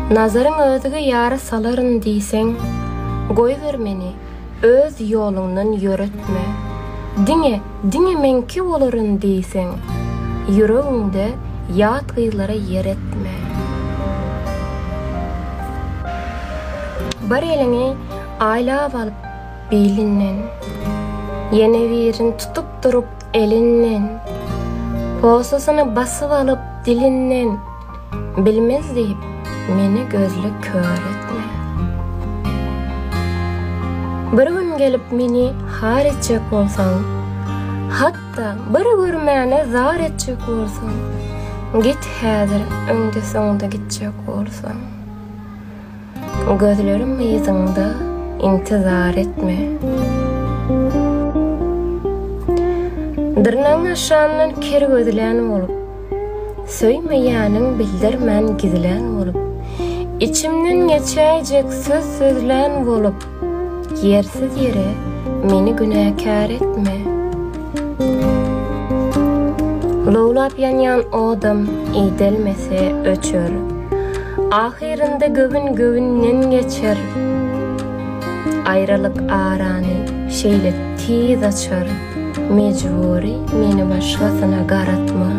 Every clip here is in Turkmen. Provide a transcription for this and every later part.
Nazaryň özge ýara salaryn diýseň, Goýber meni, öz ýoluňdan ýöretme. Diňe, diňe meňki bolaryn diýseň, Ýüregiňde ýat gyzlara ýer etme. Bir eliňi aýlap alyp bilinden, Ýene birini tutup durup, Elinden. Posasyny basyp alyp dilinden, Bilmez diýip, meni gözle kör etme. Bir gün gelip meni har etjek bolsaň, Hat-da bir görmäne zar etjek bolsaň, Git häzir öňde-soňda gitjek bolsaň. Gözlerim yzyňda intizar etme. Dyrnagyň aşagyndan ker gözlän bolup, Söýmeýäniň bildirmän gizlän bolup, Içimden geçäýjek söz sözlän bolup, Ýersiz ýere meni günäkär etme. Lowlap ýanýan odam iýdelmese öçer. Ahyrynda göwün göwünden geçer. Aýralyk arany şeýle tiz açar. Mejbury meni başgasyna garatma.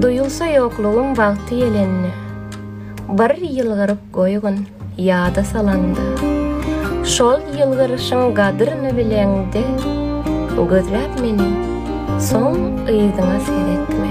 Duýulsa ýoklugym wagty ýelende. Bir ýylgyryp goýgun ýada salanda, Şol ýylgyryşyň gadryny bileňde, Gözläp meni, soň yzyňa seretme.